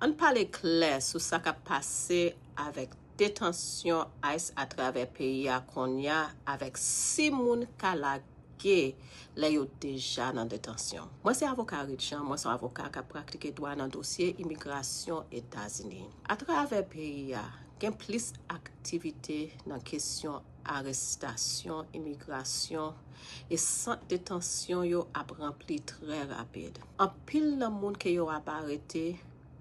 Ann pale klè sou sa k ap pase avèk detansyon ice atravè peyi a konnya avèk si moun ka lage lè yo deja nan detansyon. Mwen se avoka Reed Jean, mwen se yon avoka k ap pratike dwa nan dosye imigrasyon Etazini. Atravè peyi a, gen plis aktivite nan kesyon. arestasyon, imigrasyon, e sant detansyon yo ap ranpli trè rapid. Anpil nan moun ke yo ap arete,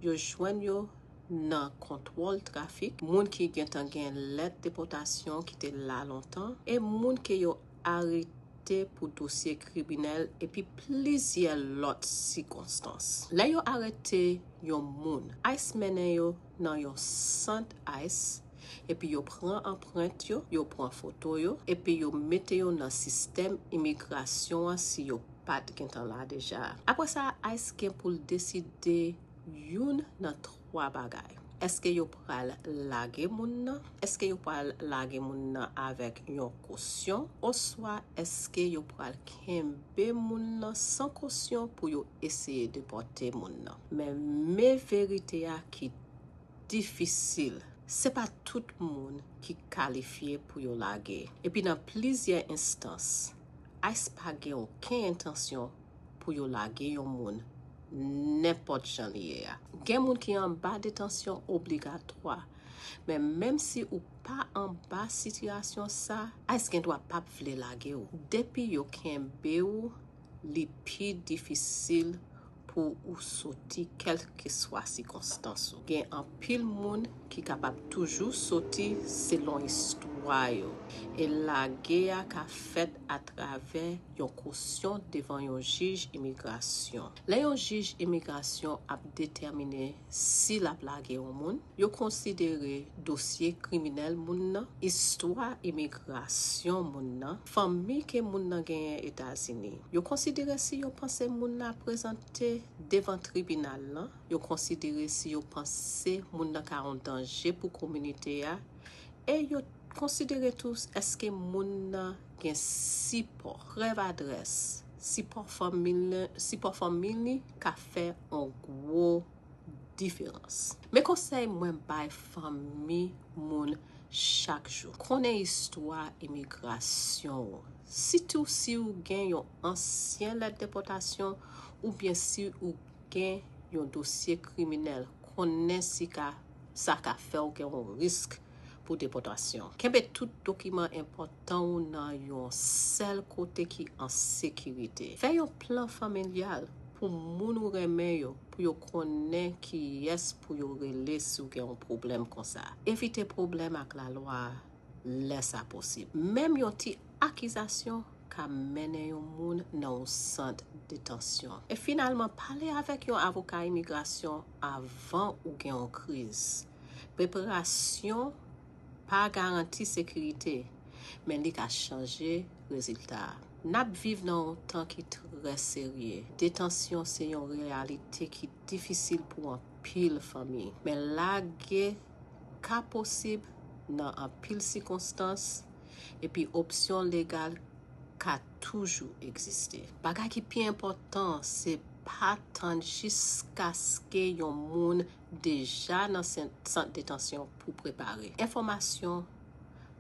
yo jwenn yo nan kontwòl trafik, moun ki gentan gen lèt depòtasyon ki te la lontan, e moun ke yo arete pou dosye kriminèl epi plizyè lòt sikonstans. Lè yo arete yon moun, ice mennen yo nan yon sant ice epi yo pran anprent yo, yo pran foto yo epi yo mete yo nan sistèm imigrasyon an si yo pat gentan la deja. Aprè sa ice gen pou l deside youn nan 3 bagay, èske yo pral lage moun nan, èske yo pral lage moun nan avèk yon kosyon oswa èske yo pral kenbe moun nan san kosyon pou yo eseye depòte moun nan. Men me verite a ki difisil. Se pa tout moun ki kalifye pou yo lage. Epi nan plizyè enstans, ice pa gen oken entansyon pou yo lage yon moun nenpòt jan li ye a. Gen moun ki anba detansyon obligatwa. Men menm si ou pa anba sitiyasyon sa, ice gen dwa pap vle lage ou. Depi yo kenbe ou li pi difisil pou ou soti kèlkeswa sikonstans ou. Gen anpil moun ki kapab toujou soti selon istwa yo, e lage a ka fèt atravè yon kosyon devan yon jij imigrasyon. Lè yon jij imigrasyon ap detèmine si l ap lage yon moun, yo konsidere dosye kriminèl moun nan, istwa imigrasyon moun nan, fanmi ke moun nan genyen Etazini. Yo konsidere si yo panse moun nan ap prezante devan tribinal lan, yo konsidere si yo panse moun nan ka yon danje pou kominite a, e yo konsidere tou èske moun nan gen sipò, prèv adrès, Sipò fanmi li ka fè yon gwo diferans. Men konsèy mwen bay fanmi moun chak jou. Konnen istwa imigrasyon ou, sitou si ou gen yon ansyen lèt depòtasyon oubyen si ou gen yon dosye kriminèl. Konnen sa ka fè ou gen yon risk. pou depòtasyon. Kenbe tout dokiman enpòtan ou nan yon sèl kote ki an sekirite. Fè yon plan familyal pou moun ou renmen yo pou yo konnen kiyès pou yo rele si w gen yon pwoblèm konsa. Evite pwoblèm ak lalwa lè sa posib. Menm yon ti akizasyon ka mennen yon moun nan yon sant detansyon. E finalman, pale avèk yon avoka imigrasyon avan ou gen yon kriz. Preparasyon pa garanti sekirite, men li ka chanje rezilta a. N ap viv nan yon tan ki trè serye. Detansyon se yon reyalite ki difisil pou anpil fanmi. Men lage ka posib nan anpil sikonstans, epi opsyon legal ka toujou egziste. Bagay ki pi enpòtan se pa tann jiskaske yon moun deja nan sant detansyon pou prepare. Enfòmasyon,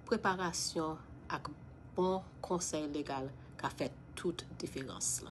preparasyon ak bon konsèy legal ka fè tout diferans.